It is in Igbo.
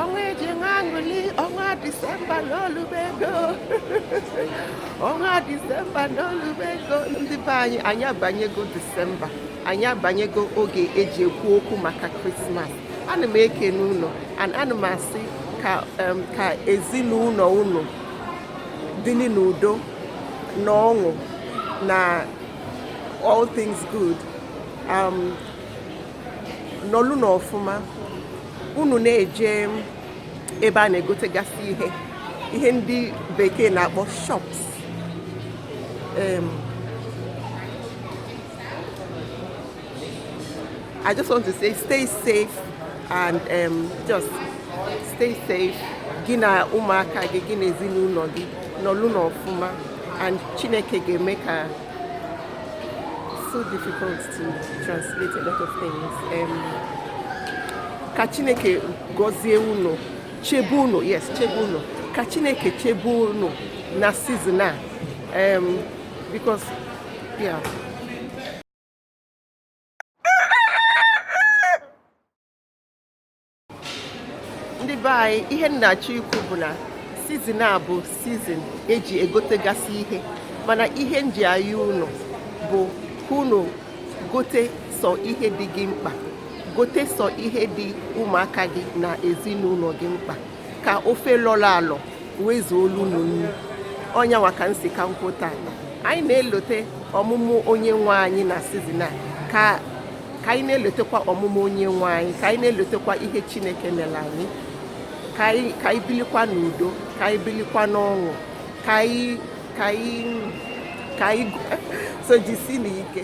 ọnwa eji enwe aṅụlị ọnwa disemba n'olubego ọnwa disemba n'olubego ndị be anyị anyị abanyego disemba anyị abanyego oge eji ekwu okwu maka krismas ana m ekene unu ana m asị ka ezinụlọ unu dịrị n'udo na ọṅụ na all things good um, nọlụ na ọfụma unu na-eje ebe a na-egotegasị ihe ihe ndị bekee na-akpọ shops I just want to say stay safe and um, just stay safe gị na ụmụaka gị gị na ezinụlọ gị nọlụ n'ọfụma and Chineke ga-eme ka so difficult to translate a lot of things. Um, ka Chineke gọzie unu chebe unu yes chebe unu ka Chineke chebe unu na season a um, because yeah. ndị be anyị ihe m na-achọ ikwu bụ na sizin a bụ sizin eji egotegasị ihe mana ihe m ji ayọ unu bụ ka unu gote sọ ihe dị gị mkpa gote sọ ihe dị ụmụaka gị na ezinụlọ gị mkpa ka ofe lọrọ alọ wee zuolu unu nri ọ nya nwa ka m sị ka m kwuo taa anyị na-elote ọmụmụ onye nwe anyị na sizin a ka ka anyị na-elotekwa ọmụmụ onye nwe anyị ka anyị na-elotekwa ihe chineke mere anyị ka anyị bilikwa n'udo ka anyị bilikwa n'ọṅụ ka anyị ka anyị ka anyị so jisinụ ike